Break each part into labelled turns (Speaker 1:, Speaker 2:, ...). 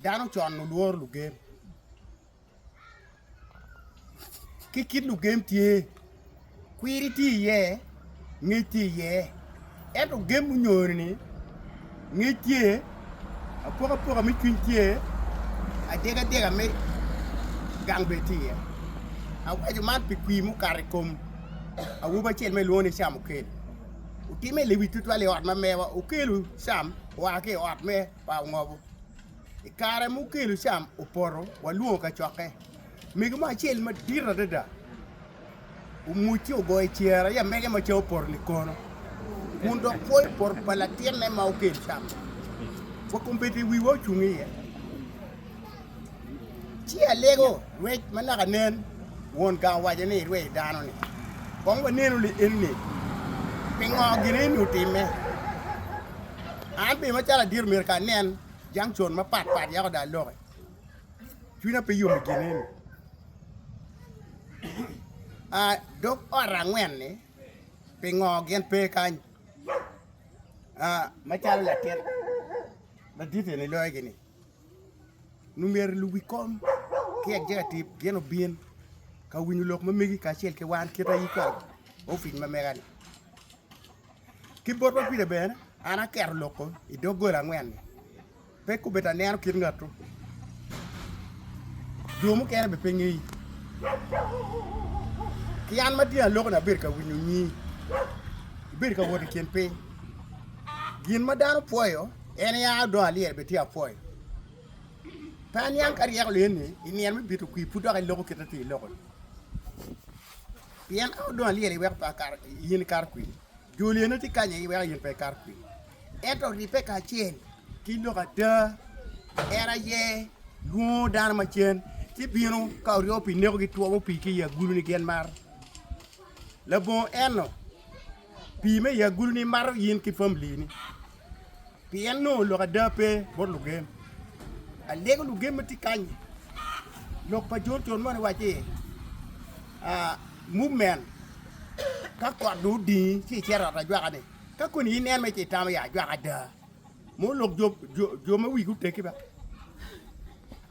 Speaker 1: Dano con olworo lugem. Ki kit lugem tye, kwiri tye iye, ngec tye iye. Ento gem munyoni-ni, ngec tye, apokapoka me cwiny tye, adyegadiega me gang bene tye iye. Awaco man pi kwir mukato i kom awobi acel ma kilwongo ni Camukel. Otimme lewic tutwal i ot ma mewa. Okelo cam oa ki i ot me pa ongobo. I kare ma okelo cam opoto, walwongo kacokke. Mego mo acel madit adada omuc ci ogoyo cere ya mege ma ca opoto likono kun dok pwoyo poto pa latinne ma okelo cam. Wa kombedde wiwa ocung iye. Ci alego rwec ma naka nen, won gang owaco ni, Irwe i dano-ni, kong wanenu ni enni pingo gin enni otimme. An bene macalo adito myero ka anen junction mapat pat yako dong aloki, cwinya pe yom i gin enni. Dog ot angwen-ni pingo gin pe kany macalo latin ladit enni loyo gini? Lumyero iluw wi kom ki executive gin obin ka winyo lok ma megi kacel ki wan kit aye kwar opic ma mega ni. Ki bot ma pire bene an aketo loko i dog gola angwen ni. Pe kubeta aneno kit ngatu. Jo mukene be pe ngeyi. Ki an ma tye aloko ni abedo ka winyo nyi. Ibedo ka wot i kin piny. Gin ma dano pwoyo En ya odo alyel bene tye apwoyo. Pe aniang ka ryeko liye ni i nino me bito kwir pud dok iloko kite ti iloko ni. Pien ka odo alyel iweko pe akar in ikar kwir, jo liye ne ti kanye iweko in pe ikar kwir. Ento ribbe ka acel ki lok ada en aye lwongo dano ma cen ci bino ka oryo pi neko gi two mo pi ki i agulu ni gen mar labongo eno. Pimme i agulu ni imato in ki familini. Pien nongo lok ada pe bot lugem. Alego lugem ma tye kany-nyi. Lok pa John John moni waci, uh, movement, ka kot dong odingi ci icito i ot ajwaka-ni, ka koni inen me ci itamo ya ajwaka ada. Mo lok jo, jo, jo ma wigi otegi ba.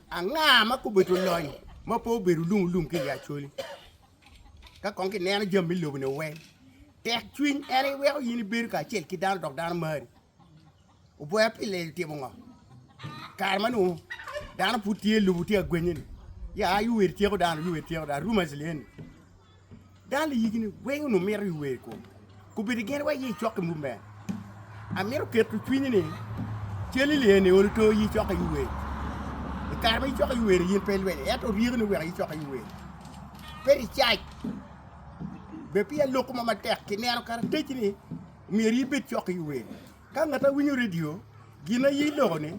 Speaker 1: Anga ma kobedo lony ma pe obedo lum lum ki i Acholi? Ka kong kineno jami me lobo-ni weng, tek cwiny en aye weko in ibedo kacel ki dano dok dano mari. Oboya pi lel timo ngo? Kare ma nongo dano pud tye lobo tye ka gwenye-ni, ya iwer ityeko dano, iwer ityeko dano, rumors lyen-ni. Dano liyigi-ni weng onongo mito iwer i kom. Kubedi gen wa aye icok i mub me. Amito keto cwinyi ni cal i lee ni olo to aye icok aye wer. I kare ma icok aye wer yin pe ilweny ento ryeko ni wek aye icok aye wer. Pe i cac be pi aloko ma matek kineno karateci ni myero ibed cok aye wer. Ka ngat awinyo redio, gin aye loko ni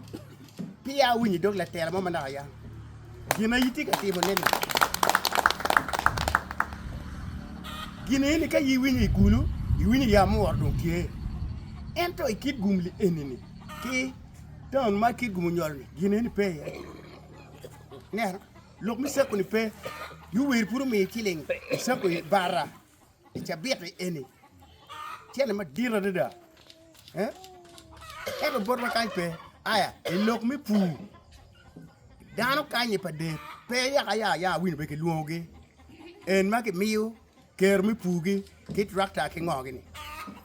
Speaker 1: peya awinyo idog latela mo manok aya. Gin aye tye ka timo ne ni gin aye ni ka aye iwinyo igulu, iwinyo ya mo oro dong tye. Ento i kit gum li eni ni ki taun ma kit gum onyolo ni gin aye ni pe iye. Neno, lok me sako ni pe, yo wer pud omiyo iciling isako i bara. I cabit-ti eni, cente madit adada. Ento botwa kany pe. Aya, i lok me pur, dano kany-nyi pa del pe yaka ya ya winy bene kilwongogi en ma kimiyo kero me purgi ki trakta ki ngo-ni.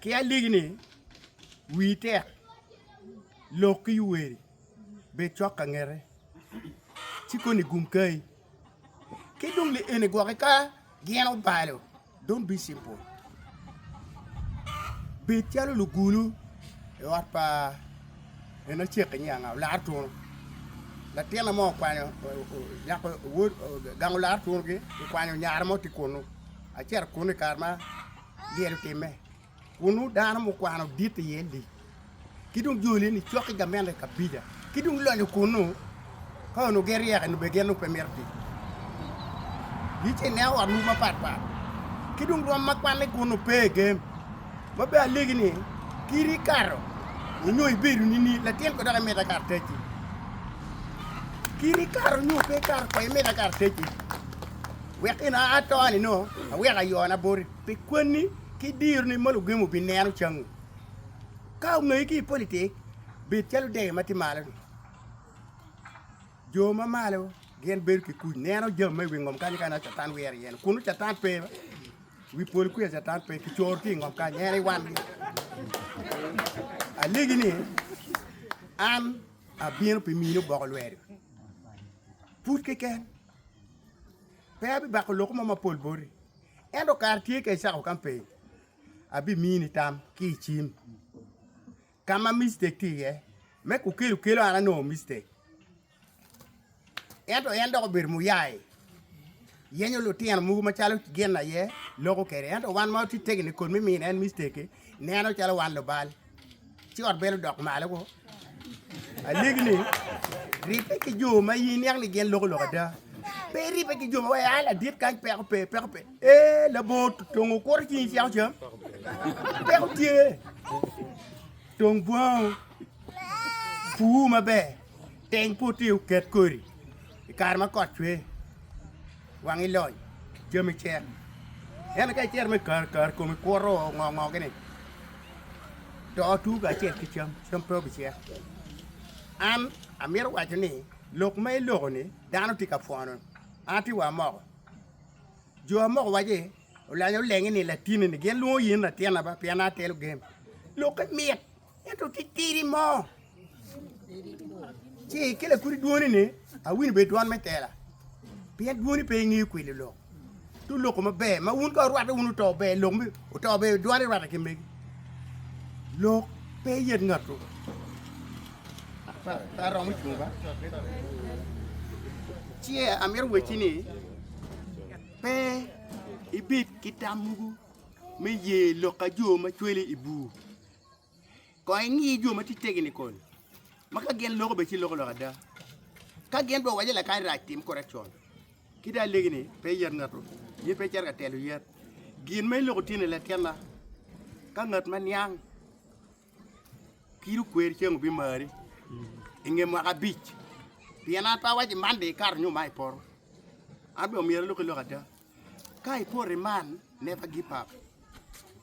Speaker 1: Ki aliki ni, Wi tek, lok ki yuweri, bed cok ka ngete, ci koni gum kayi. Ki dong li eni gwoki ka gin obalo, don't be simple. Bed calo lugulu i ot pa en acek inye anga olar tunu. Latina mo okwanyo nyako wod gango lar tunugi okwanyo nyare mo ti kunu. Acito kunu i kare ma gin timme, kun nongo dano mukwano dit iye lic, ki dong joli ni cok ki gamente i kabija, ki dong lonyo kunnu, ka onongo gin ryek eni bene gin nongo pe mito tic. Gi ci ineno otwu mapat pat, ki dong rwom ma kwanne kunnu pe i gem, ma bene alegi ni kiri ikato onyo ibedo nini latin ko dok imito akato tecci, kiri ikato onyo pe ikato ko imito akato tecci. wek in a atoni nongo awek ayona boti pi kwanni ki dironi ma lugemo bineno cangi. Ka ongeyi ki i politik, bed calo dege ma tye malo-ni. Jo ma malo gin bedo ki kuc, neno jami ma i wi ngom kany ka ineno Catan wire iye-ni. Kunu Catan pe, i wi polo kwica Catan pe, kicoro ki i ngom kany, en i wangi. Alegi ni, an abino pi mini oboko lweri, pud keken. Pe abibako lok mo mapol boti, ento kare tye ka icako ka piny, abimiyi nitam ki i cim. Ka ma mistake tye iye, me kukelu kelo an anongo mistake. Ento en dok obedo muyai, yenyo lutino mogo macalo gin aye loko kwede. Ento wan ma watye tegeni kod me mino en mistake-ki, neno calo wan lubal. Ci ot bene odok malo woko. Alegi ni, ribbe ki jo ma in niang ni gin loko lok ada. Pe iribbe ki jo ma wai a ladit kany peko pe, peko pe. E, labongo tongo kuro ci in ceko cam. Peko tye. Tong bwango. Puu maber. Teng pote oket kodi. I kare ma kot cwe. wangi lony, jami cer. Ento ka icero me kare kare komi kwoto ngo ngo gini to otu kacel ki cam, cam pe obicek. An amito waco ni lok ma iloko ni dano tye ka pwono an atye wa moko. Jo moko waci olanyo olengi ni latinni ni gin lwongo yin latinna ba pien an atelo game. Lokke mit. Ento ki tidi mo, ci ki lakudi dwoni ni awinyo bed dwon me tela, pien dwoni pe ingeyo kwilo lok. Tu loko maber ma wun ka orwate wun oto ber lok mi oto ber dwani rwate ki megi. Lok pe yet ngatu. Pa- pa romo cung ba. Ci amito wecci ni pe ibed ki tam mogo me ye lok ka jo ma cwele i bur. Kong ingi jo ma tye tegeni koni, ma ka gin loko bene ci loko lok ada. Ka gin dong owaco lakany rac tim kore con, ki dong alegi ni pe iyat ngatu, in pe icito ka telo yat. Gin ma iloko tye ne latinna, ka ngat ma niang ki dong kweri ceng obimari i nge mwaka abic, pien an pe awaco man dong ikato nyo man ipoto, an bene omyero aloki lok ada. Ka i poti man, never give up.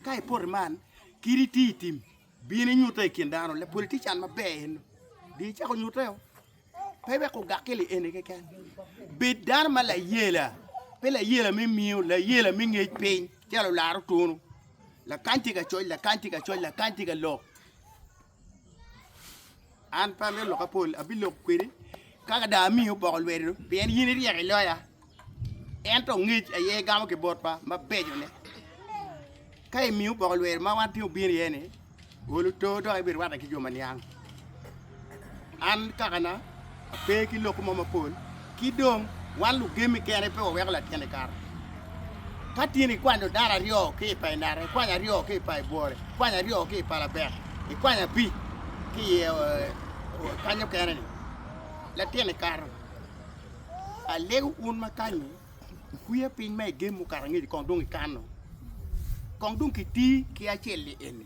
Speaker 1: Ka i poti man, kit iti i tim, bin inyute i kin dano, le politician maber en, di icako nyute o. Pe wek ogak ki li eni keken. Bed dano ma layela, pe layela me miyo, layela me ngec piny, calo laro tunu. Lakany tye ka coc, lakany tye ka coc, lakany tye ka lok. An pe amito lokke pol abiloko kwedi ka ada amiyi opoko lwedo pien in iryek i loya ento ongec aye igamo ki botwa mabecone ka imiyo opoko lwedo ma wan tye obino iye ni ol oto dok ibirwatte ki jo ma niang an kakana Pe ki lok mo mapol. Ki dong, wan lugemi kene pe waweko latyeni kato. Ka tin ikwanyo dano aryo ki i pa inata, ikwanyo aryo ki i pa ibworo, ikwanyo aryo ki i pa labek, ikwanyo abic ki i kany mukene-ni, latyeni kato. Alego un ma kanyi, wukwiya piny ma igem mukato angec kong dong ikano, kong dong kiti ki acel-li eni.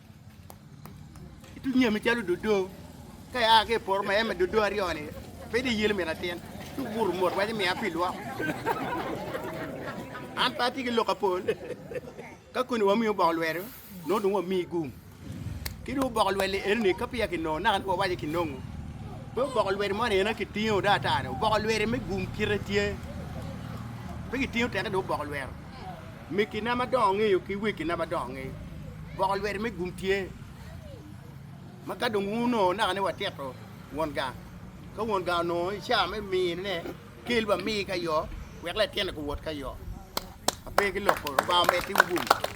Speaker 1: Ituc nyami calo dodo ka ia ki i poto ma eme dodo aryo-ni pe dong iyelo myero atin ci obuto mot waco miya pi lwok an pe atye ki lok apol ka koni wamiyo boko lwedo nongo dong wamiyi gum ki dong oboko lwel-li eno-ni ka peya kinongo naka ni wawaco kinongo pe oboko lwedi moni en aye kitingo dong ata-ni oboko lwedi me gum kite tye pe kitingo teke dong oboko lwero Mekina ma dongo ngeyo ki wegina ma dongo ngeyo, boko lwete me gum tye, ma ka dong wunongo naka ni watito won gang, ka won gang onongo i caa me mine ne, kel wamii ka yo, wek latinne guwot ka yo. Ape ki loko, Lubanga omeddi wu gum.